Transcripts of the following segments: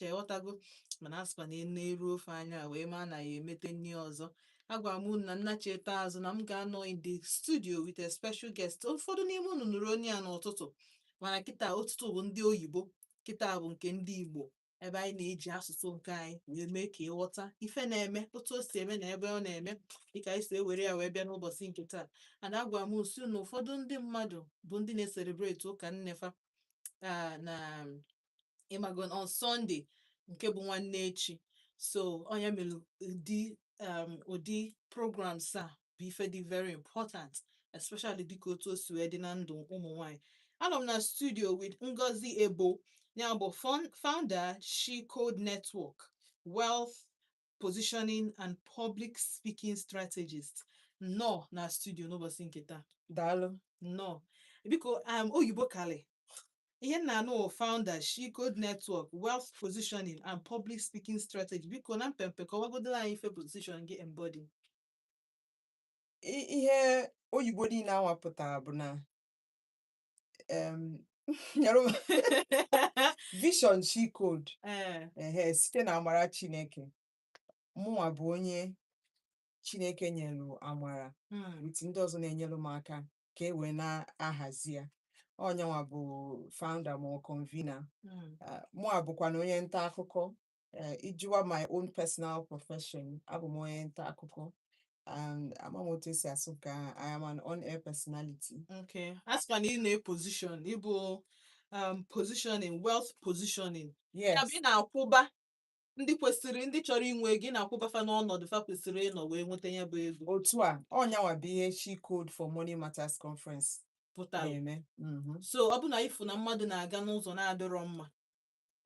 iche ghọtago mana asịkwa na e neru ofe anya wee ma na ya emete nri ọzọ agwara m unu na nnachita azụ na m ga-anọ in the studio with a special guest ụfọdụ n'ime unu nụrụ onu ya n'ụtụtụ mana kịta ụtụtụ bụ ndị oyibo kịta bụ nke ndị igbo ebe anyị na-eji asụsụ nke anyị wee mee ka ịghọta ife na-eme otu o si eme na ebe ọ na-eme dịka anyị si ewere ya wee bịa n'ụbọchị nke taa a na-agwa m sị na ụfọdụ ndị mmadụ bụ ndị na-eselebreti ụka nne fa ah, na ịmago on Sunday nke bụ nwanne echi so ọ nya mere ụdị um, ụdị programs a bụ ife dị very important especially dịka otu o si wee dị na ndụ ụmụ nwanyị anọ m na studio with Ngozi Ebo ya bụ fon- founder She Code Network Wealth positioning and public speaking strategist nọ na studio n'ụbọchị nke taa daalụ nnọọ biko um, oyibo kalị ihe m na-anụ wụ founder she code network wealth positioning and public speaking strategy biko na mpempe kọwagodoro anyị ife position gị embody I- ihe oyibo niile anwa pụtara bụ na em, your vision she code Ee, ehe site na amara Chineke mụnwa bụ onye Chineke nyelu amara mm, with ndị ọzọ na-enyelu m aka ka e wee na-ahazi ya ọ nyanwa bụ founder ma ọ convener mm, Ah, mụa bụkwa na onye nta akụkọ Eh, ị jụwa my own personal profession abụ m onye nta akụkọ and ama m otu esi asụ nke ahụ I am an on-air personality Okay. A sịwa na ị na-eposition, ị bụ um positioning, wealth positioning. Ya yes bụ ị na-akwụba ndị kwesịrị ndị chọrọ inwe ego ị na-akwụba fa n'ọnọdụ fa kwesịrị ịnọ wee nweta ya bụ ego otu a ọ nyanwa bụ ihe she code for money matters conference pụtara. na-eme Mhm. So ọ bụ na ifu na mmadụ na-aga n'ụzọ na-adịrọ mma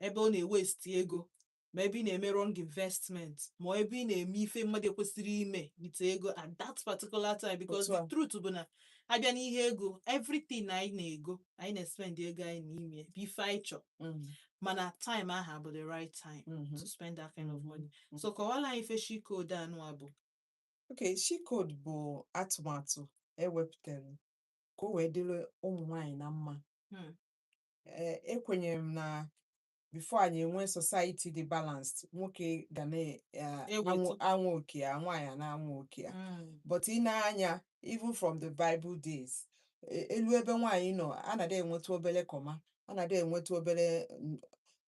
ebe ọ na-ewesti ego ma ebe ị na-eme wrong investment ma ebe ị na-eme ife mmadụ ekwesịrọ ime with ego at that particular time because Otu a. the truth bụ na a bịa n'ihe ego everything anyị na-ego anyị na-espend ego anyị n'ime ya, bụ ife anyị chọ Mm, mana time ahụ bụ the right time mhm. to spend that kind of money Mhm. so kọwala anyị ife she code anụwa bụ Okay, she code bụ atụmatụ ewepụtara ka o wee dịrị ụmụ nwanyị na mma Hmm. ee ekwenyere m na before anyị enwee society dị balanced nwoke ga na-anwa oke ya nwaanyị a na-anwa oke ya Mm. but i nee anya even from the bible days e- e lue ebe nwaanyị nọ a na-adị enwetụ obere comma a na-adị enwetụ obere n-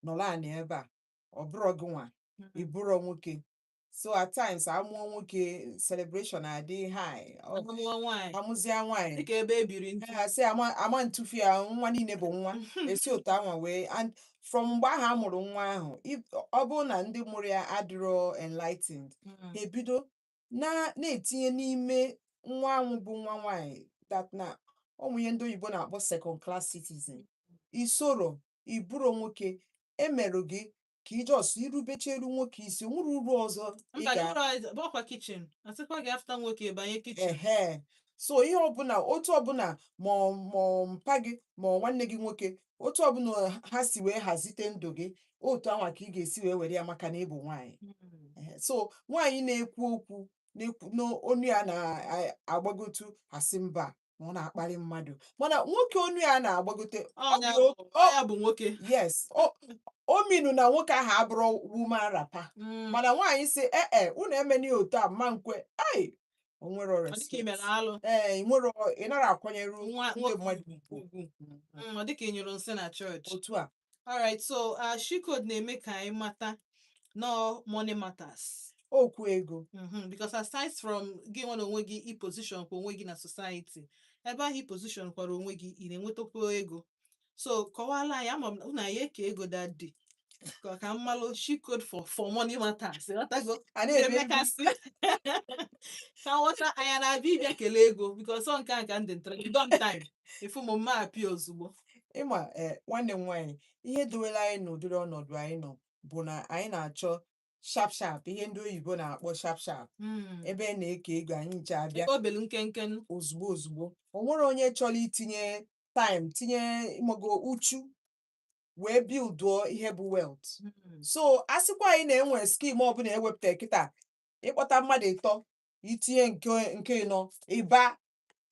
nọrọ anị ebe a ọ bụrọ gịnwa ị bụrọ nwoke so at times a mụọ nwoke celebration adị high Ọ- ọmụmụọ nwaanyị a mụzịa nwaanyị dịka ebe e biri ntu ha sị ama ama ntufu ya nwa niile bụ nwa esi otu anwa wee and from mgbe ahụ a mụrụ nwa ahụ if- ọ bụrụ na ndị mụrụ ya adịrọ enlightened Mm. ha ebido na na-etinye n'ime nwa anwụ bụ nwa nwaanyị that na ọ bụ ihe ndị oyibo na-akpọ second class citizen i sorọ ị bụrọ nwoke e merụ gị ka ị just irubecheru nwoke isi o nwere uru ọzọ ị mba ga dịrọ anyị bụ ọkwa kitchen a sịkwa gị after nwoke banye kitchen ehe so ihe ọbụla otu ọbụla ma ọ- ma ọ mpa gị ma ọ nwanne gị nwoke otu ọbụla ha si wee hazite ndụ gị otu anwa ka ị ga-esi wee were ya maka na ị bụ nwaanyị Ehe, so nwaanyị na-ekwu okwu na-ekwu na onu ya na-agbagotu a sị mba na ọ na-akparị mmadụ mana nwoke onu ya na-agbagote ọ Ọnya dị bụ- o- ọ ya bụ nwoke yes o o mean na nwoke ahụ abụrọ woman wrapper Mm, mana nwaanyị sị ee e unu emeni otu a m ma nkwe ai o nwere ọ dịka ị mere respect alụ ee ị nwere ị nara akwanyere nwa ndị nwoke mmadụ ugwu ugwu. ugwu Mm, ọ dịka ị nyụrụ nsị na chọọchị otu a alright so uh, she code na-eme ka anyị mata no money matters okwu ego Mhm, because aside from gị nwa n'onwe gị i position kwa onwe gị na society ebe ahụ i position kwara onwe gị ị na-enwetakwa ego so kọwala anyị ama m na- unu ya-eke ego that day ka ka m malụ she code for for money matters ịghọtago a na-ebe ndị- emekasị ka nghọta anya na-abịa ịbịa kelee ego because ọ nke a ka ndị ntara you don time ị fụ m m abịa ozugbo ịma ee eh, nwanne m nwaanyị ihe dowere anyị n'ụdịrị ọnọdụ anyị nọ bụ na anyị na-achọ sharp sharp ihe ndị oyibo na-akpọ sharp sharp hmm. ebe e na-eke ego anyị ncha abịa obelu nkenke ozugbo ozugbo o nwere onye chọrọ itinye time tinye ịmago uchu wee builduo ihe bụ wealth hmm. so a sịkwa anyị na e nwee scheme ọbụla e wepụta kịta ị kpọta mmadụ ịtọ i tinye nke nke ịnọ ị baa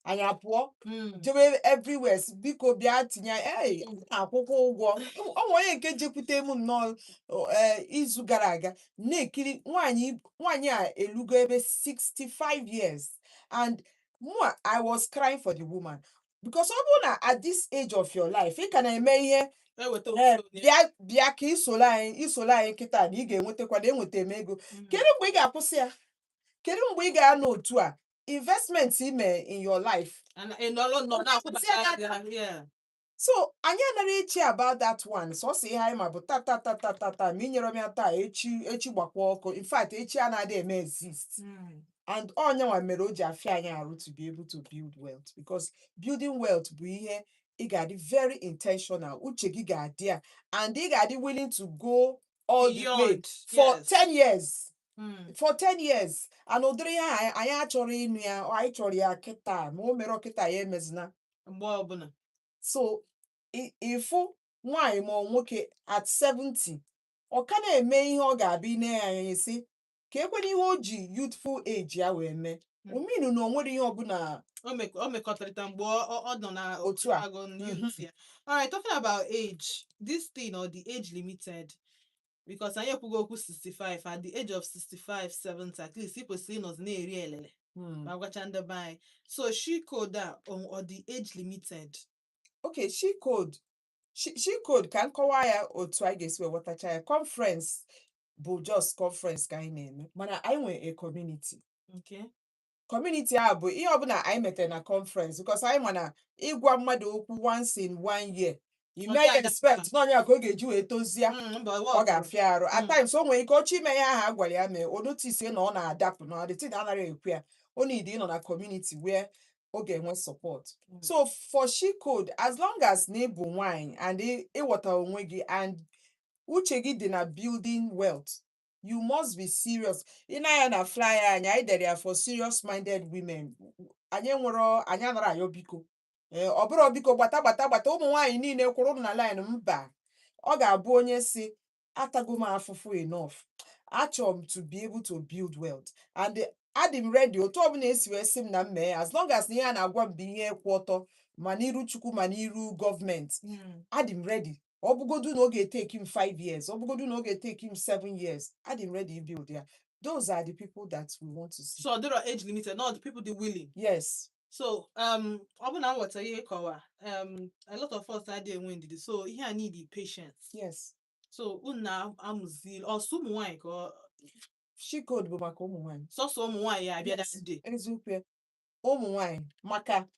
anyị apụọ Mm. jebe everywhere sị, biko bịa tinye anyị ee akwụkwa ụgwọ o nwe onye nke jekwute m nnọọ o, ee, izu gara aga na-ekiri nwaanyị nwaanyị a elugo ebe 65 years and mụa i was crying for the woman because ọ bụrụ na at this age of your life ị ka na-eme ihe eweta eh, obodo onye. bịa bịa ka i soro anyị i soro anyị kịta na ị ga-enwetakwa na enweta m ego Mm. kedu mgbe ị ga-akwụsị ya kedu mgbe ị ga-anọ otu a investment i mee in your life Ana- ị nọrọ nnọọ Ọ na-akwụbata na-akwụsị aka. aka, yeah. so anyị anaghị echi about that one sọsọ ihe anyị ma bụ tata tata tata ma i nyere m ya taa echi echi gbakwa ọkụ in fact echi anadịghị eme exist Mm. and ọ nya nwa mere o ji afịa anyị arụ to be able to build wealth because building wealth bụ ihe ị ga-adị very intentional uche gị ga-adị ya and ị ga-adị willing to go all the way Beyond, for yes. 10 years Mm. for 10 years and ụdịrị ya anyị- anyị achọrọ ịnụ ya ọ, anyị chọrọ ya kịta ma o merọ kịta ya emezina mgbe ọbụla so i- ị fụ nwaanyị ma ọ nwoke at 70 ọ ka na-eme ihe ọ ga-abịa ine ya anya sị keekwanụ ihe o ji youthful age ya wee mee Mm. ọ mean na o nwerọ ihe ọbụla o mek- o mekọtarịta mgbe ọ ọ- ọ nọ na Otu a. agụ ndị Mhm. otu ya. alright talking about age this thing ọ dị age limited because anyị ekwugo okwu 65 at the age of 65 70 at least ị kwesịrị ịnọzi na-eri elele Hmm. ma gwacha ndị be anyị so she code a ọ ọ dị age limited okay she code She, she code ka m kọwaa ya otu anyị ga-esi wee ghọtacha ya conference bụ just conference ka anyị na-eme mana anyị nwere a community Okay. community a bụ ihe ọbụla anyị metere na conference because anyị ma na ịgwa mmadụ okwu once in one year you Ọ may ga-aga expect na ọ nya ka ọ ga-eji wee tozie Mm, mba, ọ ọ ga-afịa arụ at Mm. times o nwere ike ọ chọọ ime ihe ahụ a gwara ya mee o notice na ọ na-adapụ na the thing anaghị ekwe ya o need ịnọ na community where ọ ga-enwe support Mm. so for she code as long as na ị bụ nwanyị and ị- ị ghọta onwe gị and uche gị dị na building wealth you must be serious ị nee anya na flyer anyị anyị dere ya for serious minded women anyị nwere anyị anarọ ayọ biko ee ọ bụrọ biko gbata gbata gbata ụmụ nwaanyị niile kwụrụ na line mba ọ ga-abụ onye sị atago m afụfụ enough achọrọ m to be able to build wealth and adị m ready otu ọbụla e si wee sị m na m mee ya as long as na ihe a na-agwa m bụ ihe kwụ ọtọ ma n'iru chukwu ma n'iru gọọmenti Mm. adị m ready ọ bụgodu na ọ ga-etake m 5 years ọ bụgodu na ọ ga-etake m 7 years adị m ready ibuild ya those are the people that we want to see so ọ dịrọ age limited not people dị willing yes so um ọ bụ na m ghọta ihe ị kọwa um a lot of us adịghị enwe ndidi so ihe a need patience yes so unu na-amụzi ọ sọ ụmụ nwaanyị ka ọ- she code bụ maka ụmụ nwaanyị sọsọ ụmụ nwaanyị ya-abịa Yes. that day eziokwu ya ụmụ nwaanyị maka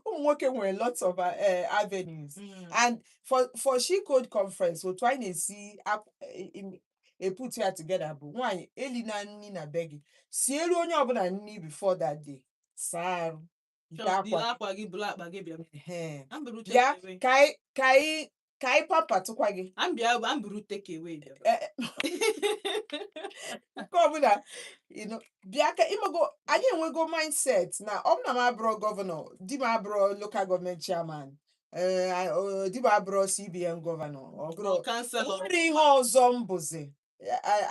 ụmụ nwoke nwere lots of uh, eh, avenues Mm. and for for she code conference otu anyị na-esi ap- eh, im- e put ya together bụ nwaanyị elina nri na be gị sielu onye ọbụla nri before that day saa arụ ite Chọọ, akwa yiri akwa gị buru akpa gị bịa Ehe. m buru take bịa away. ka anyị ka anyị ka anyị pampatụkwa gị m bịa m buru take away bịa. Eh, eh, nke ọbụla you know, bịa ka ị mago anyị enwego mindset na ọ bụ na m abụrọ gọvanọ di m abụrọ local gọọmenti chairman ee di m abụrọ cbn gọvanọ ọ bụrọ kanselọ nwere ihe ọzọ m bụzi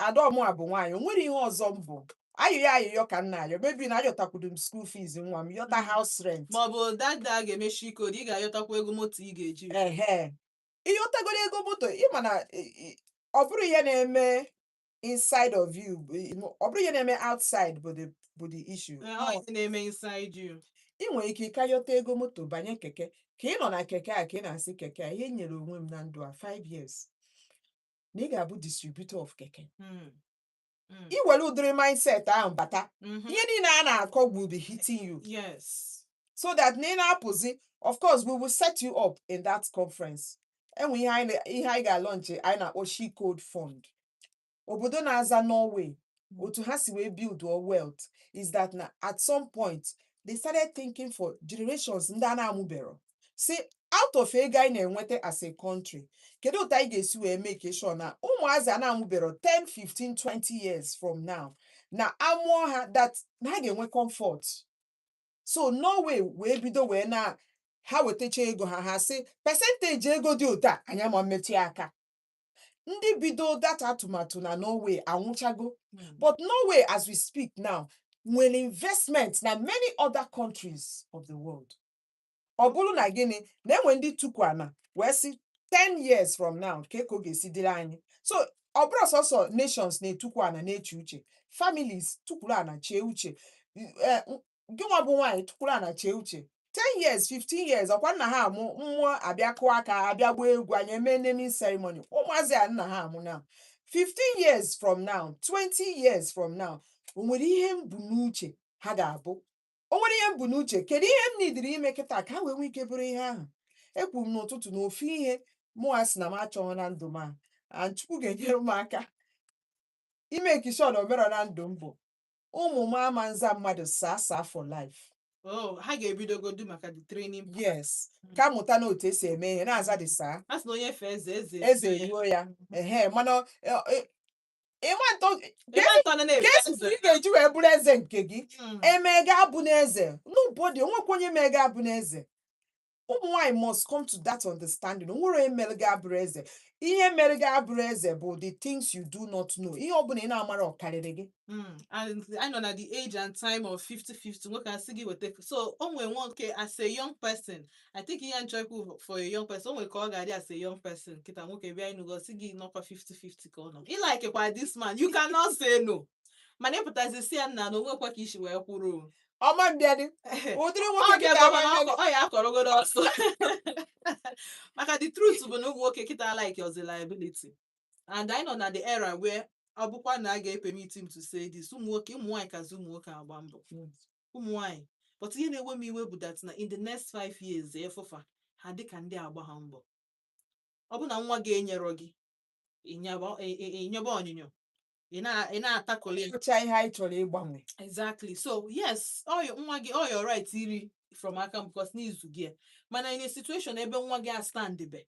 adaọmụ a bụ nwaanyị o nwere ihe ọzọ m bụ ayịyọ ayịyọ ka m na-ayọ maybe na ayọtakwudo m school fees nwa m yọta house rent maọbụ dada a ga-eme she code ị ga-ayọtakwa ego moto ị ga-eji ehe ịyọtagoro ego moto ịma na ị- ị- ọ bụrọ ihe na-eme inside of you bụ i- no, ọ bụrọ ihe na-eme outside bụ the bụ the issue Ee, ọ ihe na-eme inside you ị nwere ike ịka yọta ego moto banye keke ka ị nọ na keke a ka ị na-asị keke a ihe m nyere onwe m na ndụ a 5 years na ị ga-abụ distributor of keke Mm. Mm. i were ụdịrị mindset ahụ bata Mhm. ihe niile a na-akọ will be hitting you yes so that na ị na-apụzi of course we will set you up in that conference enwe ihe anyị na- ihe anyị ga-alaunch anyị na-akpọ she code fund obodo na-aza norway otu ha si wee build or wealth is that na at some point they started thinking for generations ndị a na-amụbero sị out of ego anyị na-enweta as a country kedu otu anyị ga-esi wee make sure na ụmụazị a na-amụbero 10 15 20 years from now na a mụọ ha that na ha ga-enwe comfort so norway wee bido wee na ha wetacha ego ha ha sị percentage ego dị otu a anyị ama mmetụ ya aka ndị bido that atụmatụ na norway anwụchago but norway as we speak now nwere investment na many other countries of the world ọ bụrụ na gịnị na enwe ndị tukwu ana wee sị 10 years from now kee ka ọ ga-esi dịrị anyị so ọ bụrọ sọsọ nations na-etukwu ana na-eche uche families tukwuru ana chee uche eh, gị nwa bụ nwaanyị tukwuru ana chee uche 10 years 15 years ọkwa m na-amụ ụmụ abịa kụọ aka abịa gbaa egwu anyị eme naming ceremony ụmụazị a m na-amụ na 15 years from now 20 years from now o nwere ihe m bu n'uche ha ga-abụ o nwere ihe m bu n'uche kedu ihe m nidiri ime kịta ka ha wee nwee ike bụrụ ihe ahụ ekwuru m n'ụtụtụ na ofu ihe mụ a sị na m achọghị na ndụ m a and Chukwu ga-enyere m aka ịmake sure na o merọ na ndụ m bụ ụmụ m ama nza mmadụ sir sir for life Oh, ha ga-ebidogodu maka the training part. yes ka mụta na otu esi eme ihe na-aza dị sir A sị na onye fee eze eze eze eruo ya. eruo ya ehe mana ọ- ọ- ịma ntọ Ịma ntọ na na-efe kesi nze. ị ga-eji wee bụrụ eze nke gị Mm. emee gị abụna eze nobody onwekwa onye mee gị abụna eze ụmụ nwaanyị must come to that understanding o nwerọ onye mere gị abụrọ eze ihe mere gị abụrọ eze bụ the things you do not know ihe ọbụla ị na-amarọ karịrị gị Mm, anyị nọ na the age and time of 50-50 nwoke asị gị weta so o nwere nwoke as a young person I think ihe m chọ ikwu for a young person o nwere ka ọ ga-adị as a young person kịta nwoke bịa ịnụ gị sị gị na ọ kwa 50-50 ka ọ nọ ị like kwa this man you cannot say no mana ị pụtazi sị ya nna na o nwekwa ka i si wee kwụrụ o. ọ ma bịadị ụdịrị nwoke Ọ kịta bịago ama mana mbịadị. ọ- ọ ya akọrọgodo ọsọ maka the truth bụ na ụmụ nwoke kịta alikerọ liability and anyị nọ na the era where ọ bụkwa na a ga-epemiti m to say this ụmụ nwoke ụmụ nwaanyị kazi ụmụ nwoke agba mbọ ụmụnwaanyị but ihe na-ewe m iwe bụ that na in the next five years ị fụ fa ha dịka ndị agbaha mbọ ọ bụ na nwa gị enyerọ gị ịnyaba ị- ị- ịnyaba onyinyo ị na- ị na-atakụli ya Ọ bụcha ihe anyị chọrọ ịgbanwe. exactly so yes ọ your nwa gị ọ your right iri from aka m because na ị zụgo ya. mana in a situation ebe nwa gị astandbe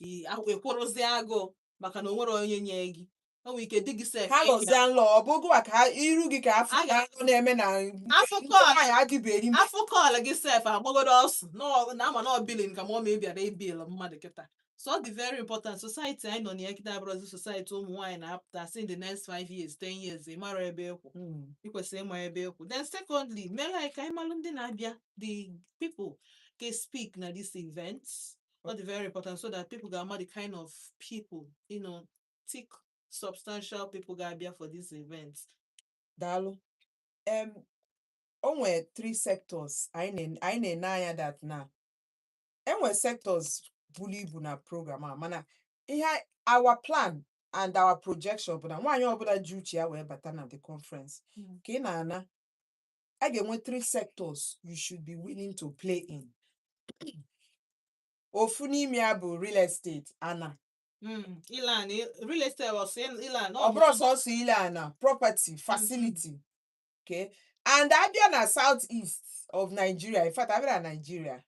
i- a- ị kwụrụzie agụụ maka na o nwerọ onye nye gị o nwere ike di gị sef ha nọzie n'ụlọ ọ bụghị wa ka ha- iru gị ka afọ A ga- ahụ na-eme na Afọ ndị kọọlụ. nwaanyị adịbeghị ime. afọ kọọlụ gị sef agbagodo ọsọ na ọ- na ama na ọ billing ka ma ọ ma ị bịara ịbill mmadụ kịta so ọ dị very important society anyị nọ na ya kịta abụrụzi society ụmụ nwaanyị na-apụta si in the next five years ten years ị mara ebe ị kwụ Mm. ị kwesịrị ịma ebe ị kwụ then secondly mere anyị ka anyị malụ ndị na-abịa the people ga-speak na this event ọ dị very important so that people ga-ama the kind of people you know thick substantial people ga-abịa for this event daalụ em o nwere three sectors anyị na- anyị na-ene anya that na e nwe sectors buru ibu na program a mana ihe a- our plan and our projection bụ na nwaanyị ọbụla ji uche ya wee bata na the conference Mm. ka ị na-ana ị ga-enwe three sectors you should be willing to play in ofu n'ime ya bụ real estate ana Mm, Ilan, i- real estate was saying Ilan. ọ bụrọ sọsọ ile ana property facility okay and a bịa na south east of nigeria in fact a bịa na nigeria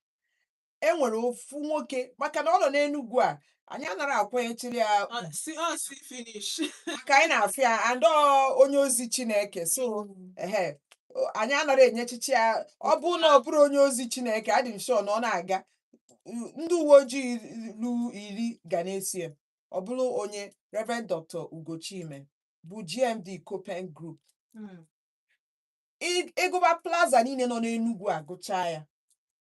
e nwere ofu nwoke maka na ọ nọ n'Enugwu a anyị anarọ akwanyechiri ya ugwu see ọ see finish maka anyị na-afụ ya and ọ onye ozi Chineke so ehe o- anyị anarọ enyechichi ya ọ bụrụ na ọ bụrọ onye ozi Chineke adị m sure na ọ na-aga u- ndị uwe ojii lu iri ga na-eso ya ọ bụrụ onye Reverend Dr. Ugo Chime bụ GMD Copen Group Mm. Ị- ị gụba plaza niile nọ n'Enugwu agụchaa ya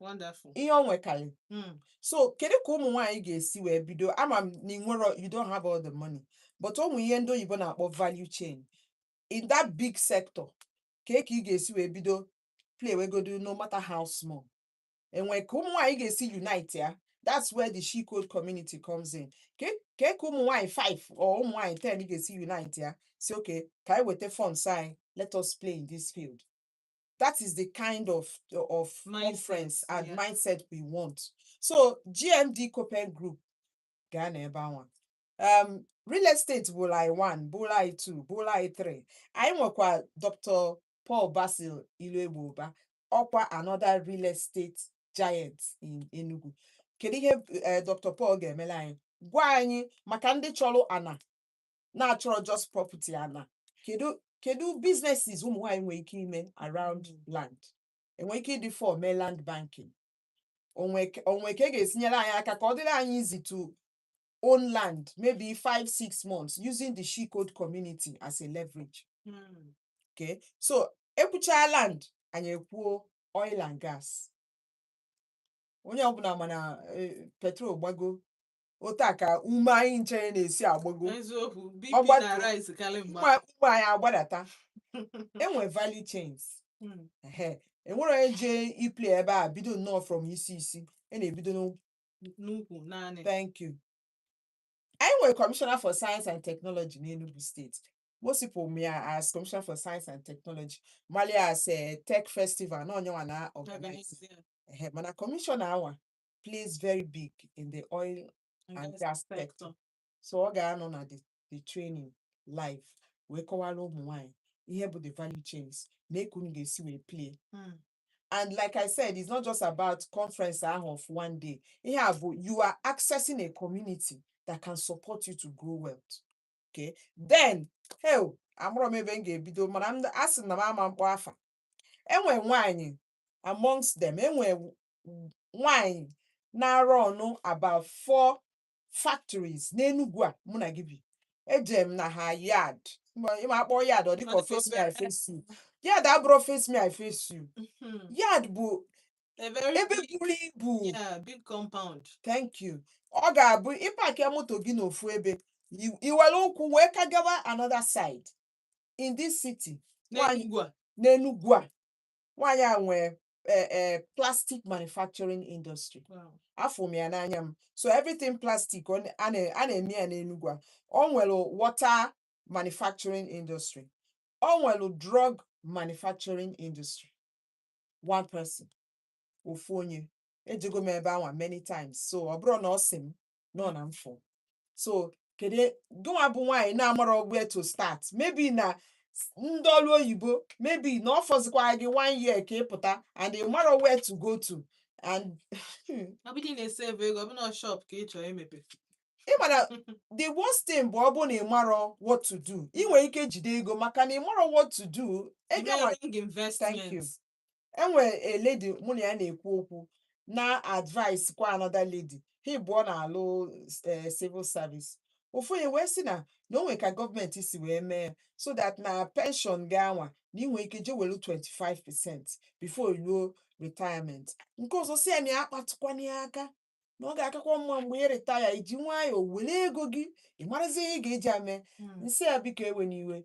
Wonderful. ihe o nwekarị Mm. so kedu ka ụmụ nwaanyị ga-esi wee bido ama m na ị nwerọ you don't have all the money but o nwe ihe ndị oyibo na-akpọ value chain in that big sector ka ka ị ga-esi wee bido playwegodo no matter how small e nwe ka ụmụ nwaanyị ga-esi unite ya that's where the she code community comes in ka ka ka ụmụ nwaanyị 5 or ụmụ nwaanyị 10 ga-esi unite ya si okay ka anyị weta funds anyị let us play in this field that is the kind of of mindset, conference and yeah. mindset we want so gmd copen group ga-anọ ebe anwa um, real estate bụ line one bụ line two bụ line three anyị nwekwa dr paul basil iluegbo ụba ọkwa another real estate giant in enugu kedu ihe uh, dr paul ga-emela anyị gwa anyị maka ndị chọrọ ana na-achọrọ just property ana kedu kedu businesses ụmụ nwaanyị nwere ike ime around land enwere ike ịdị four mee land banking onwe ke- onwe ka e ga-esi nyere anyị aka ka ọ dịrị anyị easy to own land maybe five six months using the she code community as a leverage Mm. okay so ekwuchaa land anyị ekwuo oil and gas onye ọbụla ma na eh, petrol gbago otu a ka ume anyị ncha na-esi agbago eziokwu Ọ bp gbatu- na-arise karị mgba ume ume anyị agbadata enwe value chains Mm. ehe enwere onye jee iplay ebe a bido nnọọ from isi isi a na-ebido n'ụkwụ n'ukwu naanị Thank you. anyị nwe commissioner for science and technology in Enugu State. Most people ma ya as commissioner for science and technology. malụ ya as a tech festival, na onye anwa na-organize. Organize ya. Ehe, Mana commissioner anwa, plays very big in the oil and gas sector so ọ ga-anọ na the, the training live wee kọwara ụmụ nwanyị ihe bụ the value chains mee ka unu ga-esi wee play Mm. and like i said it's not just about conference ahụ of one day ihe a bụ you are accessing a community that can support you to grow wealth okay then hei amarọ m ebe m ga-ebido mana m asị na m ama mkpọ afa enwe nwaanyị amongst them enwe nwanyị na-arun about four factories n'Enugwu a mụ na gị bi eje m na ha yard Ma- ịma akpọ yard ọ dịka Ọ dịka face me I obere. face you yard abụrọ face me I face you Mhm. yard bụ A very ebe big, buru ibu yeah, big compound. thank you ọ ga-abụ ị parkịa moto gị n'ofu ebe i- i were ụkwụ wee ka gawa another side in this city Nwaanyị- N'Enugwu a. n'Enugwu a nwaanyị a nwee eh, eh, plastic manufacturing industry Wow. afụ m ya n'anya m so everything plastic ọ na- a na- a na-eme ya n'Enugu a ọ nwere water manufacturing industry ọ nwere drug manufacturing industry one person ofu onye ejego m ebe anwa many times so ọ bụrụ na ọ sị m nọ na mfụ so kedu e, gịnwa bụ nwaanyị na-amarọ where to start maybe na ndị ọlụ oyibo maybe na ọ fọzikwa gị one year ka ị pụta and ị marọ where to go to and ọ bụdị na-esave ego ọ bụ na shop ka ị chọrọ imepe ị mara the worst thing bụ ọ bụ na ị marọ what to do ị nwere ike jide ego maka na ị marọ what to do ego thank you enwere a lady mụ na ya na-ekwu okwu na-advise kwa another lady ha ịbụọ na-alụ eh, civil service ofu onye wee sị na na o nwere ka gọọmenti si wee mee ya so that na pension gị anwa na ị nwe ike je welu 25 percent before i luo retirement nke ọzọ sị ya na ya akpatụkwana ya aka na ọ ga-akakwa mma mgbe ị retire i ji nwayọọ were ego gị ị marazie ihe ị ga-eji ya mee m sị ya biko ewena iwe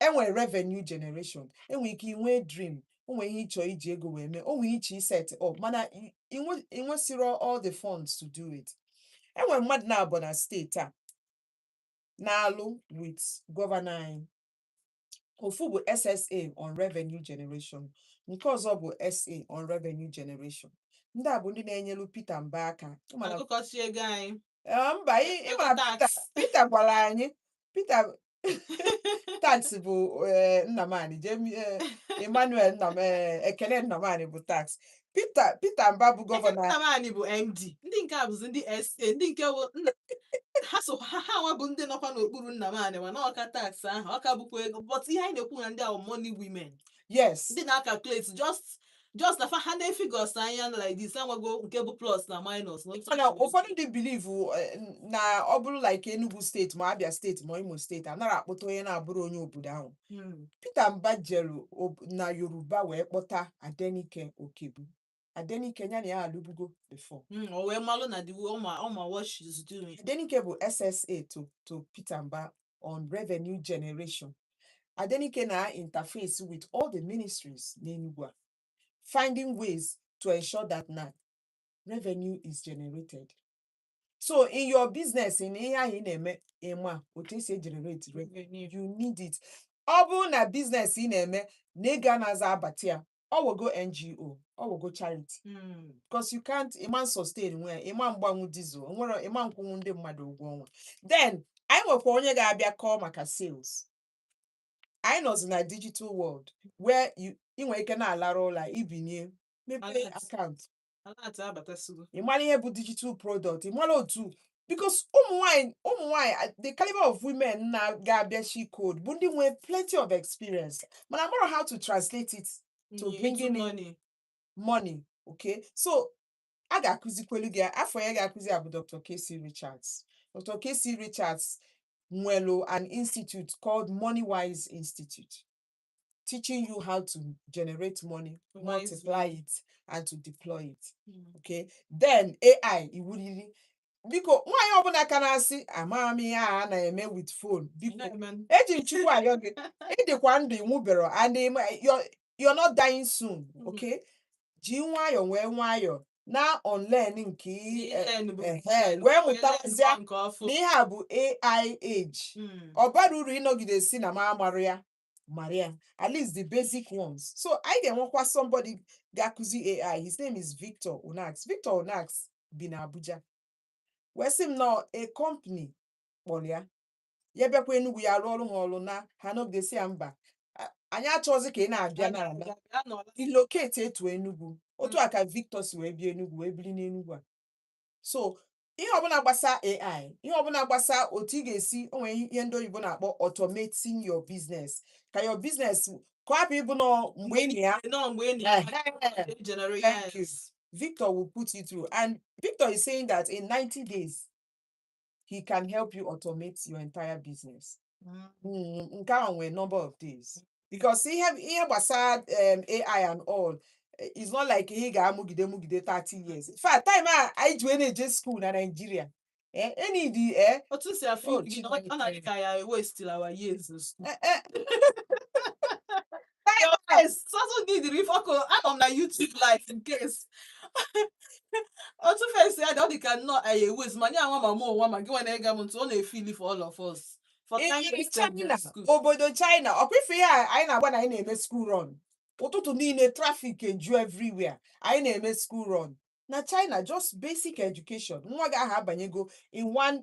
enwere revenue generation enwere ike inwe dream o nwere ihe ị chọ iji ego wee mee o nwere ihe ị chọ iset up mana i- inwe- inwesirọ all the funds to do it enwere mmadụ naabọ na steeti a na-alụ with gọvanọ anyị ofu bụ SSA on revenue generation nke ọzọ bụ SA on revenue generation ndị a bụ ndị na-enyelu Peter Mba aka Ị ma na akụkọsi ego anyị Ee, mba ị- ị ma Tax. Peter Peter gwara anyị Peter tax bụ eh, Nnamani Jemi eh, Emmanuel Nnam eh, Ekene Nnamani bụ tax Peter Peter Mba bụ gọvanọ anyị. Nnamani bụ MD ndị nke a bụzi ndị SA ndị nke bụ nna ha so ha ha nwa bụ ndị nọkwa n'okpuru Nnamani mana ọ ka tax ahụ ọ ka bụkwa ego but ihe anyị na-ekwu na ndị a wụ money women yes ndị na-acalculate just just na fa ha nee figures anya na like this amago nke bụ plus na minus na otu mana a- ụfọdụ ndị believe na ọ bụrụ like Enugu steeti ma Abia steeti ma Imo steeti anara akpọta onye na-abụrọ onye obodo ahụ Hmm. Peter Mba jere ob- na Yoruba wee kpọta Adenike Okebu Adenike ya na ya alụbugo before Mm, o wee malụ na the way ọ ma ọ ma what she's doing Adenike bụ SSA to to Peter Mba on revenue generation Adenike na-interface with all the ministries n'Enugu a finding ways to ensure that na revenue is generated so in your business in ihe ahụ ị na-eme ị ma otu e si egenerate revenue Revenue. you need it ọ bụrụ na business ị na-eme na ego anara abata ya ọ wogo NGO ọ wogo charity Mm. because you can't ị ma sustain nwu ya ị ma mgbanwu diesel nwere ị ma nkwụnwu ndị mmadụ ụgwọ ọnwa then anyị nwekwa onye ga-abịa kọọ maka sales anyị nọzi na digital world where you- ị nwere ike na-alara ụla i binie mepee Alert. account ị mara ihe bụ digital product ị mara otu because ụmụ nwanyị ụmụ nwanyị the caliber of women na-ga-abịa she code bụ ndị nwee plenty of experience mana amarọ how to translate it to bring in money. money okay so a ga-akụzikwelu gị afọ ya ga-akụzi ya bụ Dr. Casey Richards Dr. Casey Richards nwelu an institute called Moneywise Institute teaching you how to generate money, Wisely. multiply it, and to deploy it. Mm. Okay, then AI iwu riri biko nwaanyị ọbụla ka na-asị amaghị m ihe a a na-eme with phone biko Nagman. eji m chukwu ayọ gị ị dịkwa ndụ ị nwụberọ and ị ma- you're- you're not dying soon Mhm. okay ji nwayọ wee nwayọ na-unlearn nke ị- eh, Learn bụ- ehe, learn, wee learn mụtazie nke ọfụ. na ihe a bụ AI age Mm. ọ barọ uru ị nọgide sị na m amarọ ya Marị ya, at least the basic ones. So anyị ga-enwekwa somebody ga-akụzi AI. His name is Victor Onax. Victor Onax bi na Abuja. Wee sị m na a company kpọlị ya. Ya bịakwa Enugu ya rụọrụ ha ọrụ na ha nọgide sị ya mba anyị achọrọzi ka ị na-abịa na-ala relocate to Enugu otu a ka Victor si wee bịa Enugu wee biri n'Enugu a so ihe ọbụla gbasa AI ihe ọbụla gbasa otu ị ga-esi o nwere ihe ndị oyibo na-akpọ automating your business ka your business ka ọ hapụ ịbụ nọọ mgbe ị nọ ya No, mgbe ị na- Ehe. They generate- Thank you. yes. Victor will put you through. And Victor is saying that in 90 days, he can help you automate your entire business. Mm, nke ahụ nwere number of days because ihe ihe gbasara um, AI and all eh, it's not like ihe ị ga-amụgide mụgide 30 years in fact time a anyị ji wee na-eje school na Nigeria eh, any the eh, otu m si afụ Oh, gị na ọ- ọ na-adị Chineke. ka ya waste-ila our years na school. eh, eh, your face sọsọ gị dịrị ife ọkụ anọ m na YouTube live in case otu face ya dị ọ dị ka nnọọ anyị a-waste ma ya nwa ma mụ nwa ma gị nwa na-ege m ntị ọ na-efeel for all of us for Ee, kindly send me China to school. obodo China ọkwa ife ihe a anyị na-agba na anyị na-eme school run ụtụtụ niile traffic eju everywhere anyị na-eme school run na China just basic education nwa gị ahụ abanyego in one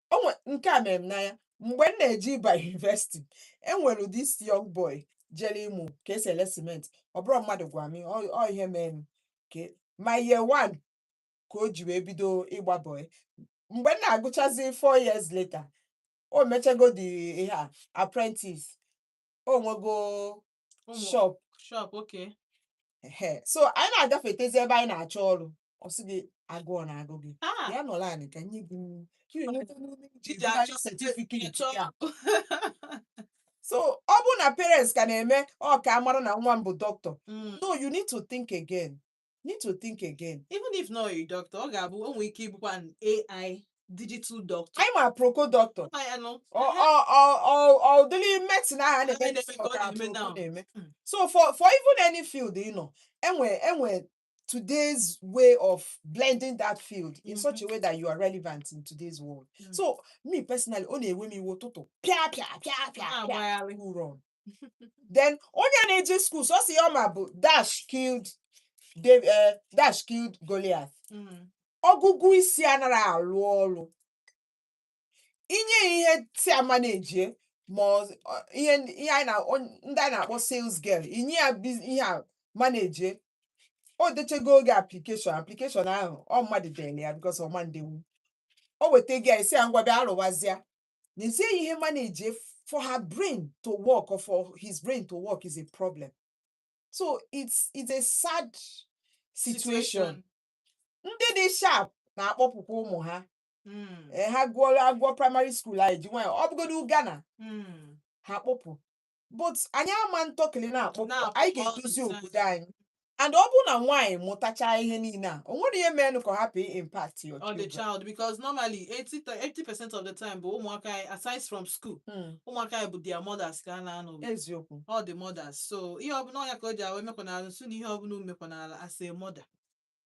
o nwe nke a mere m n'anya mgbe m na-eje ịba university e nwere this young boy jere ịmụ ka e si ele cement ọ bụrọ mmadụ gwa m ọ ọ ihe mee m my year one ka o ji wee bido ịgba boy mgbe m na-agụchazi four years later o mechago the ihe a apprentice o nwego Ụmụ- shop shop okay ehe so anyị na-agafetezi ebe anyị na-achọ ọrụ ọ sị gị agụụ na-agụ gị ah bịa n'ụlọ anyị ka nye gị nri. Ka ị nweta ume iji Iji bugharị achọ certificate ịchọ ya. so ọ bụrụ na parents ka na-eme ọ ka a mara na nwa m bụ doctor Mm, no you need to think again need to think again even if not a doctor ọ ga-abụ o nwere ike ịbụkwa an ai digital doctor anyị ma Aproko doctor Ma ya nụ. ọ ọ ọ ọ ọ ụdịrị medicine ahụ a na-eme Anyị na-eme ka ọ ka na-eme Aproko now. na-eme Mm. so for for even any field ị nọ e nwe e nwe today's way of blending that field in such a way that you are relevant in today's world Mm. so me personally ọ na-ewe m iwe ụtụtụ pịa pịa pịa pịa pịa na-agbagharị who run then onye a na-eje skuul sọsọ ihe ọ ma bụ dash killed Dav- eh, dash killed Goliath Mm. ọgụgụ isi anara arụ ọrụ i nye ya ihe to manage ma ọ- ọ- ihe ndị ihe anyị na- on- ndị anyị na-akpọ sales girl i nye ya biz- ihe a manage o dechego oge application application ahụ ọ mmadụ dere ya because ọ ma ndenwu o weta gị ya ị sị ya ngwa bịa rụwazịa n'ezie ihe manage for her brain to work or for his brain to work is a problem so it's it's a sad situation ndị dị sharp na-akpọpụkwa ụmụ ha Mm, ee ha gụọ agụọ praịmarị skuul ha eji nwayọ ọ bụgodu Ghana mm, ha kpọpụ but anyị ama ntọkịlị na-akpọpụ Na-akpọpụ anyị ga-edozi ọnụ. obodo anyị and ọ bụrụ na nwaanyị mụtachaa ihe niile a o nwere ihe mere ka ọ hapụ impact your on the children. child because normally 80 to 80 percent of the time bụ ụmụaka anyị aside from school Hmm, ụmụaka anyị bụ their mothers ka ha na-anọ with. eziokwu all the mothers so ihe ọbụla ọ nya ka o ji awa emekwanala nso na ihe ọbụla m mekwanala as a mother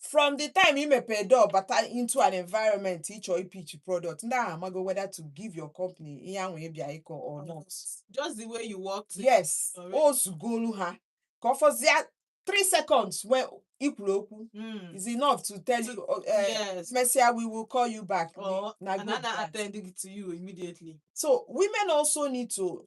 from the time i mepee door bata into an environment ị chọ ị pitch product ndị ahụ amago whether to give your company ihe ahụ ị bịa ịkọ or not Just the way you walked. in. yes Alright. o zugolu ha ka ọ fọzie 3 seconds when i kwuru okwu Mm. is enough to tell To- you uh, yes. mesịa we will call you back Or na and go I'm not back. attending to you immediately. so women also need to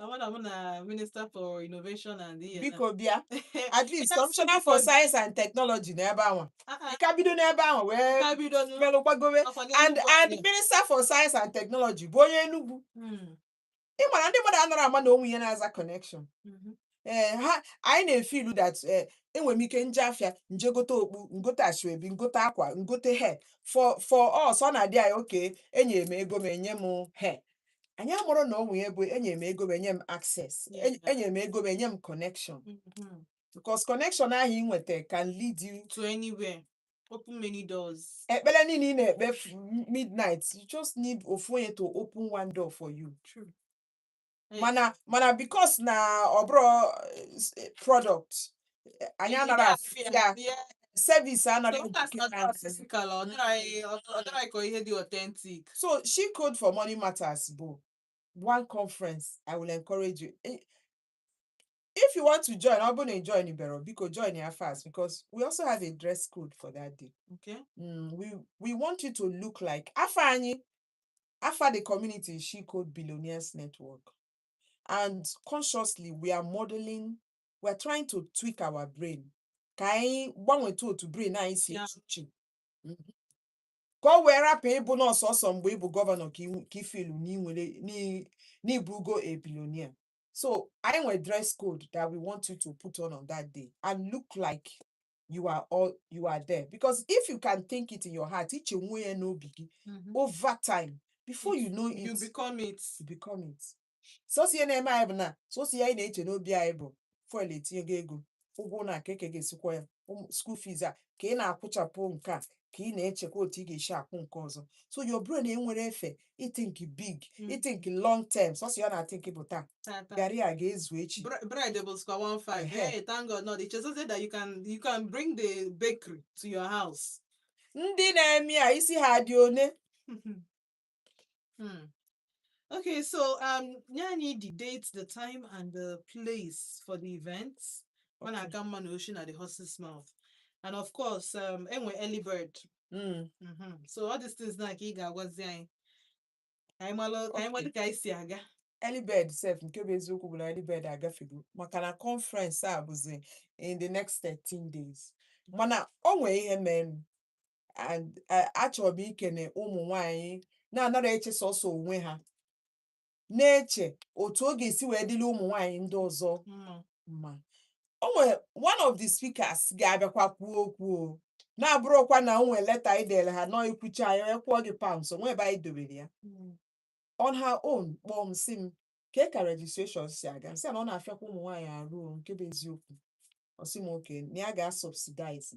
Amana mụ na Minister for Innovation and ihe na- biko bịa at least Yes, kọmishọna for biko. science and technology na ebe anwa Ah, ah, ka bido n'ebe anwa wee ka bido nụ. melụ gbagowe Ọkwa n'elu and ụwa and anyị. minister for science and technology bụ onye Enugu Hmm, ị mara ndị mmadụ anara ama na o nwe ihe na-aza connection mhm. ee eh, ha anyị na-efeel that ee eh, enwere m ike nje afịa nje gote okpu ngote asoebi ngote akwa ngote hair for for us ọ na-adị anyị okay enye m ego m enye m hair anyị amụrụ na o nwe ya bụ enye m ego m enye m access enye m ego m enye m connection mm-hmm. because connection ahụ ị nweta can lead you to anywhere open many doors ekpere niile ị na-ekpe midnight you just need ofu onye to open one door for you True. mana mana because na ọ bụrọ eh, product eh, anyị anara afụ ya service anara Because that's educate not us. physical, ọ dịrị anyị- ọ ọ dịrị anyị ka ihe dị authentic. so she code for money matters bụ one conference i will encourage you Eh, if you want to join ọ bụrụ na ị joinibero biko join ya fast because we also have a dress code for that day Okay. mm, we we want you to look like afa anyị Afa the community is She Code Billionaires Network. And consciously, we are modeling, we are trying to tweak our brain. Ka anyị gbanweta otu brain anyị si Yeah. eche uche. Mhm. Ka o wee rapụ ịbụ na ọ sọsọ mgbe ị bụ governor ka iwu- ka ị feel na i nwere n'i- n'ị bụgo a billionaire. So anyị nwere dress code that we want you to put on on that day and look like you are all you are there because if you can think it in your heart i chenwe ya n'obi gị Mhm. over time before you know it you become it you become it sọsọ ihe na-eme anyị bụ na sọsọ ihe anyị na-eche n'obi anyị bụ fuel etinyego ego ụgwọ ụnọ kee ka ị ga-esi kwụọ ya ụmụ- school fees a ka ị na-akwụchapụ nke a ka ị na-echekwa otu ị ga-esi akwụ nke ọzọ so your brain enwerọ efe ịthink big Mm. ịthink long term sọsọ ihe ọ na-athink bụ taa Tata. garị a ga-ezu echi Bre- bread bụzikwa one five. Ehe. Hey, thank God, not i chezozie that you can you can bring the bakery to your house. ndị na-eme ya isi ha dị one Hmm. Okay, so nye anyị the date, the time, and the place for the event. Ọ na-aka mma na o si na the horse's mouth, and of course, um, e nwere early bird. Mm. Mm-hmm. So all these things now, ka ị ga-agwazi anyị, anyị amalụ, anyị ama ka e si aga. early bird sef nke bụ eziokwu bụ na early bird agafego maka na conference a bụzi in the next 13 days mana o nwee ihe mere and eh, achọrọ m ikene ụmụ nwanyị na-anara eche sọsọ onwe ha na-eche otu ọ ga-esi wee dịrị ụmụ nwanyị ndị ọzọ mma o nwere one of the speakers ga-abịakwa kwuo okwu ọ na-abụrọkwa na o nwere leta anyị dere ha na ị kwucha ya ya kwụọ gị pounds o nwe ebe anyị dobere ya on her own kpọọ m sị m kee ka registration si aga sị na ọ na-afịakwa ụmụ nwaanyị arụ o, nke bụ eziokwu ọ sị m okay na ya ga-asubsidize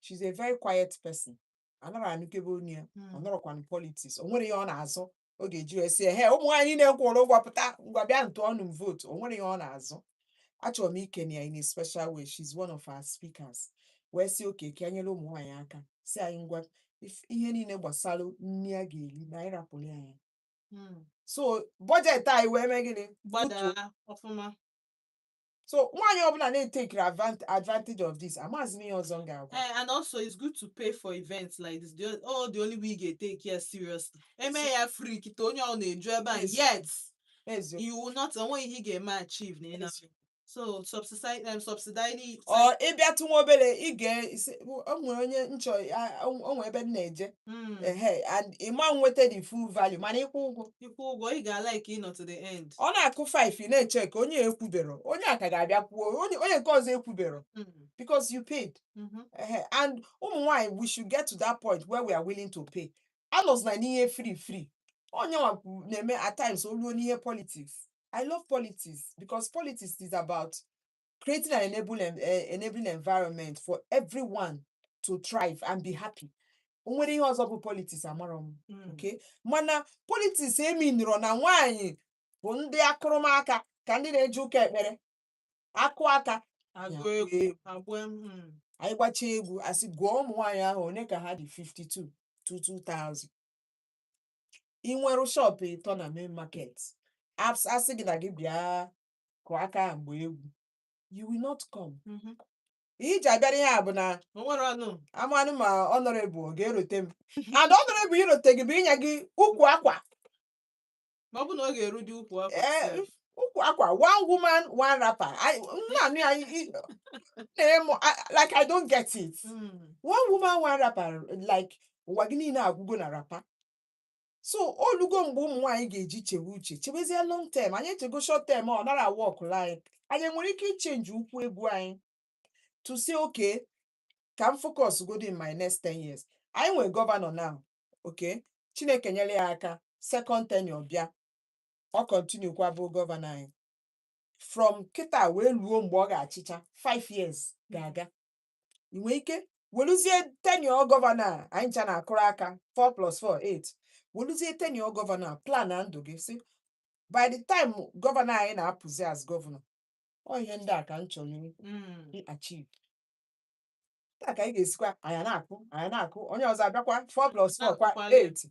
she's a very quiet person anara anụkebe ọnụ ya ọ Mm. nọrọkwa na politics o nwerọ ihe ọ na-azọ ọ ga-eji wee sị he ụmụ nwaanyị niile kwụrụ ụgwọ pụta ngwa bịanụ tụọnụ m vote o nwerọ ihe ọ na-azọ achọrọ m ikene ya in a special way she's one of our speakers wee sị okay ka e nyere ụmụ nwaanyị aka sị anyị ngwa if- ihe niile gbasara nri a ga-eri na anyị rapụrụ ya ya Mm. so budget anyị wee mee gịnị gbadaa ọfụma so nwaanyị ọbụla na-etekiri advant- advantage of this amazi m ihe ọzọ m ga-agwa Eh, and also it's good to pay for events like this. The, oh, the only way ị ga-eteki ya seriously. Eme ya free kịta onye ọ na-eju ebe a Yes. yet Eziokwu. you will not o nwe ihe ị ga-eme achieve na ịna. Eziokwu. So subsidize um, subsidize it. ọ ị bịatụ nwa obere ị ga-asị o nwere onye m chọ a- o o nwere ebe m na-eje Mm. ehe and ị ma nweta the full value mana ị kwụọ ụgwọ ị kwụọ ụgwọ ị ga-alike ịnọ to the end ọ na-akụ 5 ị na-eche ka onye ekwuberọ onye a ka ga-abịa kwuo onye onye nke ọzọ ekwuberọ Mm, because you paid mhm. Ehe, and ụmụ nwanyị we should get to that point where we are willing to pay anọzina n'ihe free free onye nwa kwu- na-eme at times o luo n'ihe politics i love politics because politics is about creating an enable, en- eh, enabling environment for everyone to thrive and be happy o nwere ihe ọzọ bụ politics amarọ m Mm. okay mana politics eminirọ na nwaanyị bụ ndị akụrụmaka ka ndị na-eje ụka ekpere akụ aka agụ na-agba egwu egwu. agba egwu, mm. anyị gbacha egwu asị gụọ ụmụ nwaanyị ahụ one ka ha dị 52 two 2000 ị nwere shọpụ ịtọ na main market As- asị gị na gị bịa kụọ aka ahụ ma gbaa egwu you will not come Mhm. ihe i ji abịara ihe a bụ na O nwere ọnụ. amanụ ma honorable ọ ga-erote m and honorable irote gị bụ inye gị ukwu akwa Ma ọ bụ na ọ ga-erudị ukwu akwa. Ee, sef. ukwu akwa one woman one wrapper I- m na-anụ ya i- i- na-emu I- like i don't get it Mm. one woman one wrapper like ụwa gị niile agwụgo na wrapper so o lugo mgbe ụmụ nwaanyị ga-eji chewe uche chewezie long term anyị echego short term ọ nara awọkụlụ anyị anyị nwere ike ichenji ụkwụ egwu anyị to say okay ka m focus godi in my next 10 years anyị nwere gọvanọ now okay chineke nyere ya aka second tenure bịa ọ continue kwa bụ gọvanọ anyị from kịta wee luo mgbe ọ ga-achịcha 5 years ga-aga i nwee ike weluzie tenure gọvanọ a anyị ncha na-akụrụ aka 4 plus 4 8 weluzie tenure gọvanọ a plana ndụ gị sị by the time gọvanọ anyị na-apụzi as gọvanọ ọ ihe ndị a ka m chọrọ i- Mm. i achieve taa ka anyị ga-esikwa anyị na-akụ anyị na-akụ onye ọzọ abịakwa 4 plus 4 kwa Na-akụkwali. 8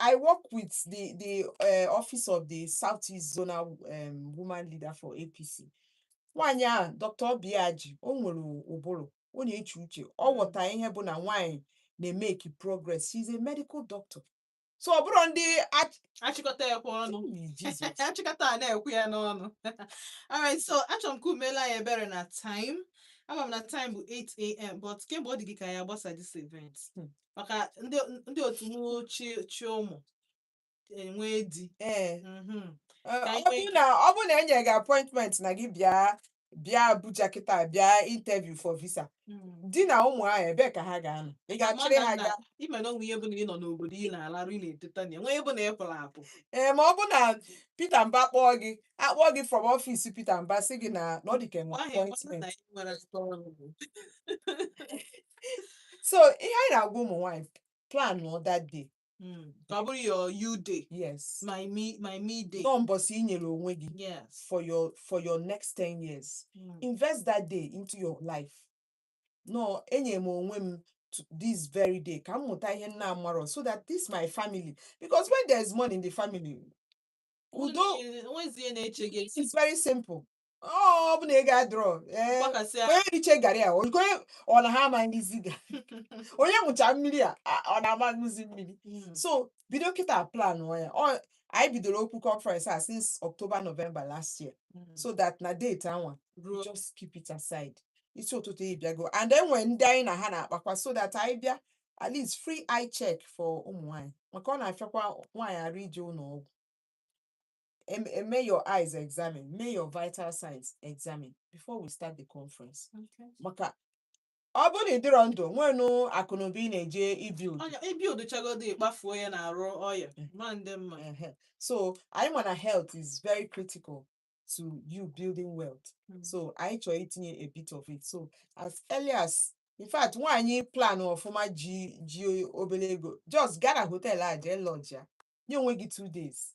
I work with the the uh, office of the Southeast Zonal um, Woman Leader for APC. Nwaanyị a Dr. Obiaji o nwere ụbụrụ ọ na-eche uche ọ ghọta ihe bụ na nwaanyị na-emeki progress she's a medical doctor so ọ bụrụ ndị ach- achịkọta ya kwa ọnụ Ooh, Jesus. achịkọta a na-ekwu ya n'ọnụ alright so achọrọ m ka unu meela anyị ebere na time ama m na time bụ 8am but kemgbe ọ dị gị ka ya gbasa this event maka ndị ndị otu m chị chị ụmụ enwee di ee Mhm. Ọ Ka anyị nwee bụrụ na ọ bụrụ na e nyere gị appointment na gị bịa bịa Abuja kịta bịa interview for visa Mm. di na ụmụ ahụ ebee ka ha ga-anọ ị ga-achịrị ha Mana gaa na- ị ma na o nwe ihe bụ na ị nọ n'obodo ị na-alarụ ị na-eteta na enwe ihe bụ na ị pụrụ apụ ee ma ọ bụ na Peter Mba kpọọ gị akpọọ gị from ọfịs Peter Mba sị gị na na ọ dị ka e nwe ahụ ọ bụrụ appointment na ị nwere aka ọrụ so ihe anyị na-agwa ụmụ nwaanyị plan nụ that day Mm. Ka ọ bụrụ your you day, yes my me, my me day. na ọ mbọsị i nyere onwe gị Yes. for your for your next 10 years Mm. invest that day into your life no enye m onwe m to this very day ka m mụta ihe m na-amarọ so that this my family because when there is money in the family udo O nwezi ihe na-eche gị. it's very simple ọ bụ na ego adịrọ ee gbakasịa onye richa garị a onye ọ na ha amanagezi ga onye ṅụcha mmiri a a- ọ na-amanagezi mmiri Mm. so bido kịta plan ya ọ anyị bidoro okwu conference a since October November last year Mm. so that na date anwa ruo just keep it aside isi ụtụtụ ị bịago and then nwee ndị anyị na ha na-akpakwa so that anyị bịa at least free eye check for ụmụ nwaanyị maka ọ na-afịakwa nwaanyị arụ ije ụlọ ọgwụ em- em- mee your eyes examine mee your vital signs examine before we start the conference Okay. maka ọ bụrụ na ị dịrọ ndụ nwenụ akụnụba ị na-eje ibuild Ọnya i buildchagodu ị kpafuo ya n'arụ ọya Mm. ma ndị mma Ehe. so anyị ma na health is very critical to you building wealth Mm. so anyị chọrọ itinye a bit of it so as early as in fact nwaanyị plan ọfụma ji ji obere ego just gaa na hotel a jee lodge ya nye onwe gị two days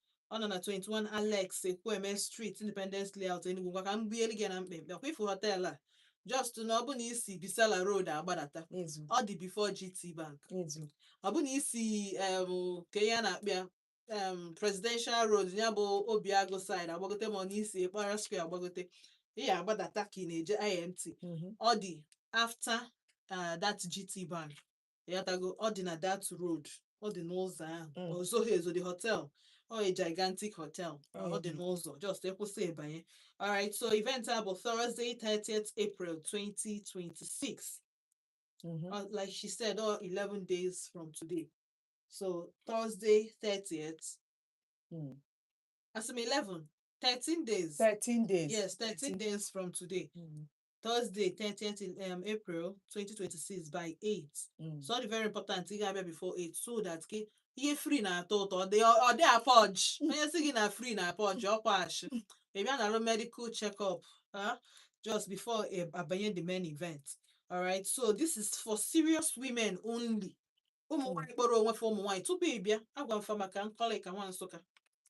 ọ nọ na 21 Alex Ekwueme Street Independence Layout Enugu ngwa ka m bielu gị ya na mkpemkpe ọ kwa i fu họtel a just na ọ bụ na i si Bisala Road agbadata ezu ọ dị before GT Bank ezu ọ bụ na i si em, kee ihe a na-akpọ ya em, Presidential Road ya bụ Obiagụ side agbagote ma ọ na i si Okpara Square agbagote ị ya-agbadata ka ị na-eje IMT mhm, ọ dị after uh, that GT Bank ịghọtago ọ dị na that road ọ dị n'ụzọ ahụ Mm. o zoghị ezo the hotel ọ a gigantic hotel ọ dị Mm. n'ụzọ just ị kwụsị ị banye alright so event a bụ Thursday 30th April 2026 Mhm. uh, like she said, oh, 11 days from today. So Thursday, 30th. Mm. I said 11, 13 days. 13 days. Yes, 13 days from today. Mm. Thursday 30th um, April 2026 by 8 Mm. so ọ dị very important ị ga-abịa before 8 so that gị ihe free na-atọ ụtọ ọ dị ọ dị apọj onye sị gị na free na-apọj ọkwa ashị ị bịa narụ medical check-up ah, just before ị abanye the main event alright so this is for serious women only ụmụ Mm. nwaanyị kpọrọ onwe fa ụmụ nwaanyị tupu ị bịa agwa m fa maka nkọlịka nwa nsụka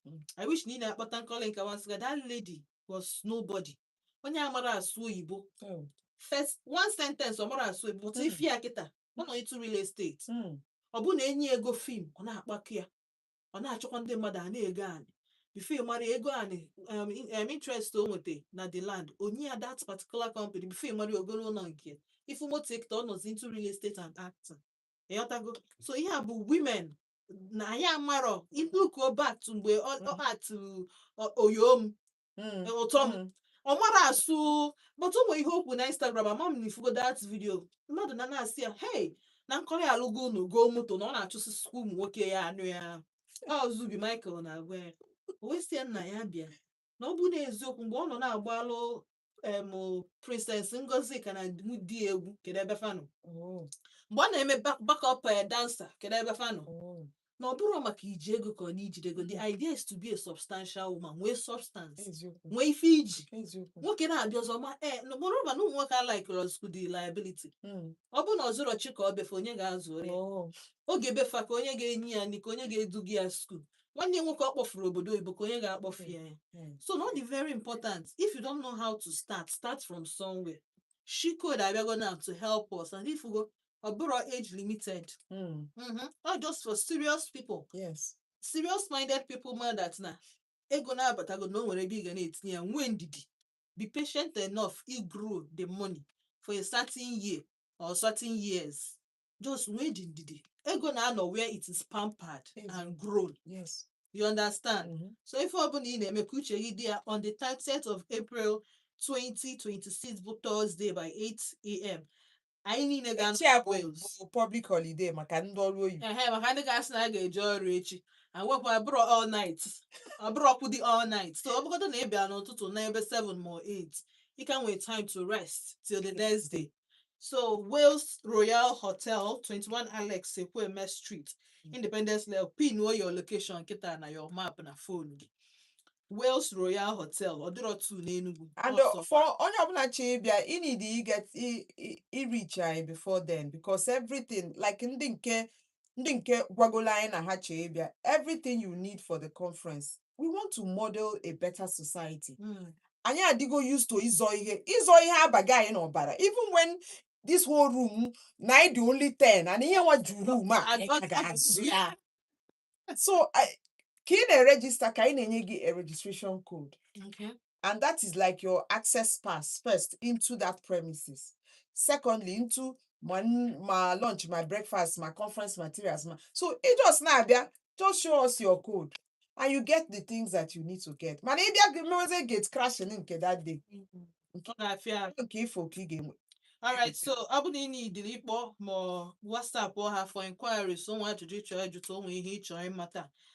Mm. i wish na ị na-akpọta nkọlịka nwa nsụka that lady was nobody onye amara asụ oyibo Mm. first one sentence ọ mara asụ oyibo but Mm. ị fụ ya kịta ọ nọ into real estate Mm. ọ bụ na e nye ego film ọ na-akpakọ ya ọ na-achọkwa ndị mmadụ a na-ego anị before ị mara ego anị um, in- um, interest o nweta na the land o nye ya that particular company before ị mara o golo ụlọ nke ị fụ moto ya kịta ọ nọzi into real estate and acting ịghọtago so ihe a bụ women na anyị amarọ ị lookuo back to mgbe ọ ọ atụ ọ- oyom Mm, ụtọ m mm. ọ mara asụ but o nwere ihe o kwu na instagram ama m na ị fụgo that video mmadụ na na-asị ya hey na nkọlị alụgo ụnọ goo moto na ọ na-achụsịsịkwa ụmụ nwoke ya anụ ya ọ zubby michael na-agwa ya o wee sị ya nna ya bịa na ọ bụ eziokwu mgbe ọ nọ na-agbalụ em princess ngozika na di di ya egwu kedu ebe fa nọ Mm, mgbe ọ na-eme back- backup eh, dancer kedu ebe fa nọ mm. na ọ bụrọ maka iji ego ka ọ na ijide ego the idea is to be a substantial woman nwee substance eziokwu nwee ife i ji eziokwu nwoke na-abịa ọzọ ma ee moreover na ụmụ nwoke alikerọzikwu ndị liability Mm, ọ bụ na ọ zụrọ chi ka ọ be fa onye ga-azụ ya oh, oge be fa ka onye ga-enye ya nri ka onye ga-eduga ya school nwanne ya nwoke ọ kpọfuru obodo oyibo ka onye ga-akpọfu ya ya Mm. so na ọ dị very important if you don't know how to start start from somewhere she code abịago now to help us and ị fụgo ọ bụrọ age limited Mm. Mhm. na ọ just for serious people Yes. serious minded people ma that na ego na-abatago na o nwere ebe ị ga na-etinye ya nwee ndidi be patient enough i grow the money for a certain year or certain years just nwee dị ndidi ego na-anọ where it is pampered Ego. and grown yes you understand Mhm. so ife ọbụla ị na-eme ka uche gị dị ya on the 30th of april 2026 bụ thursday by 8am anyị niile ga echi ya bụ Wales. bụ public holiday maka ndị ọrụ oyibo ehe maka ndị ga-asị na a ga-eje ọrụ echi awepụ abụrọ all night ọ bụrọkwụdị all night so ọ bụgodu na ị bịa n'ụtụtụ n'ebe 7 ma 8 ị ka nwe time to rest till the next day So Wales Royal Hotel, 21 Alex Ekweme Street, Independence Layout, pin o your location kịta na your map na phone gị. Wales Royal Hotel, ọ dịrọ two n'Enugu. And ọ uh, sọ. for onye ọbụla chọrọ ịbịa, ị need i get i i- i reach anyị before then because everything like ndị nke ndị nke gwagolo anyị na ha chọrọ ịbịa, everything you need for the conference we want to model a better society Mm. anyị adịgo used to ịzọ ihe ịzọ ihe abago anyị n'ọbara even when this whole room na anyị dị only 10 and ihe nwa ju room a anyị ka ga-azọ ya so I- ka ị na-erejista ka anyị na-enye gị a registration code Okay. and that is like your access pass first into that premises secondly into my n- my lunch my breakfast my conference materials my... so ị just na-abịa just show us your code and you get the things that you need to get mana ị bịa gị mewezie gate crashing nke that day Ọ na-afịa ahụ. nke ị fụ ka ị ga-enwe Alright, so ọ bụ na ị nidiri ịkpọ ma ọ WhatsApp ha for inquiries o nwe ajụjụ ị chọ ịjụta o nwe ihe ị chọ ịmata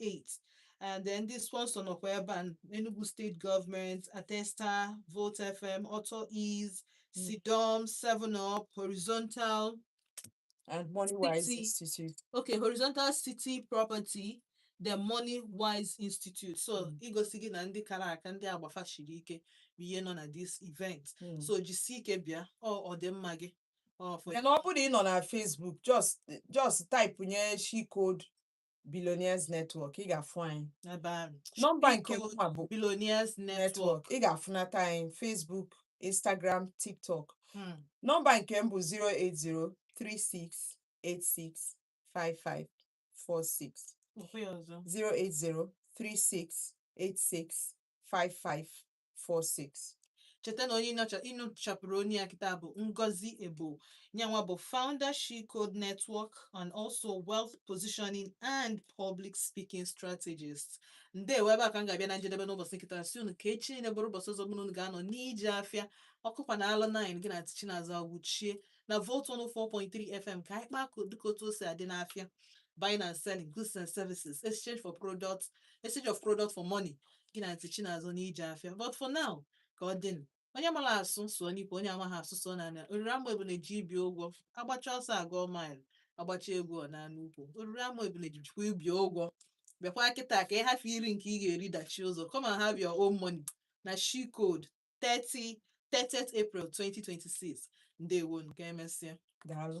eight and then ndị sponsor nọkwa ebe a Enugu State Government Atesta Volt FM Auto Ease Mm. Sidom Seven Up Horizontal and money wise City. institute okay horizontal city property the money wise institute so Mm. igosi gị na ndị kara aka ndị agba fa shiri ike bụ ihe nọ na this event Mm. so jisie ike bịa o ọ dị mma gị ọ for Then ọ bụrụ na ị nọ na Facebook just just type nye she code Billionaires Network ị ga-afụ anyị ebe ahụ nọmba nke Biko, mụnwa bụ Billionaires Network Network ị ga-afụnata anyị Facebook Instagram TikTok Hmm. nọmba nke m bụ 08036865546 Kwuo ya ọzọ 08036865546 cheta na onye ị nụchapụrụ onu ya kịta bụ Ngozi Ebo nyanwa bụ founder She Code Network and also wealth positioning and public speaking strategist ndewo ebe a ka m ga-abịa na njedebe n'ụbọchị nke taa sị unu ka echi niile bụrụ ụbọchị ọzọ mụ na unu ga-anọ n'ije afịa ọ kụkwa na alụ 9 gị na Aunty Chinazọ Awuchie na Volt 104.3 FM ka anyị kpaa ka dịka otu o si adị n'afịa buying and selling goods and services exchange for products exchange of product for money gị na Aunty Chinazọ n'ije afịa but for now ka ọ dịnụ onye mara asụ sụọ n'ikwe onye amaghị asụ sụọ n'ana oriri ama ebule ji ibi ụgwọ a gbachaa ọsọ a gụọ mile a gbachaa egwu ọ naa n'ukwu oriri ama ebule ji jikwa ibi ụgwọ bịakwa kịta ka ị hafụ iri nke ị ga-eri dachie ụzọ come and have your own money na she code 30 30th April 2026 ndewo nke emesịa daalụ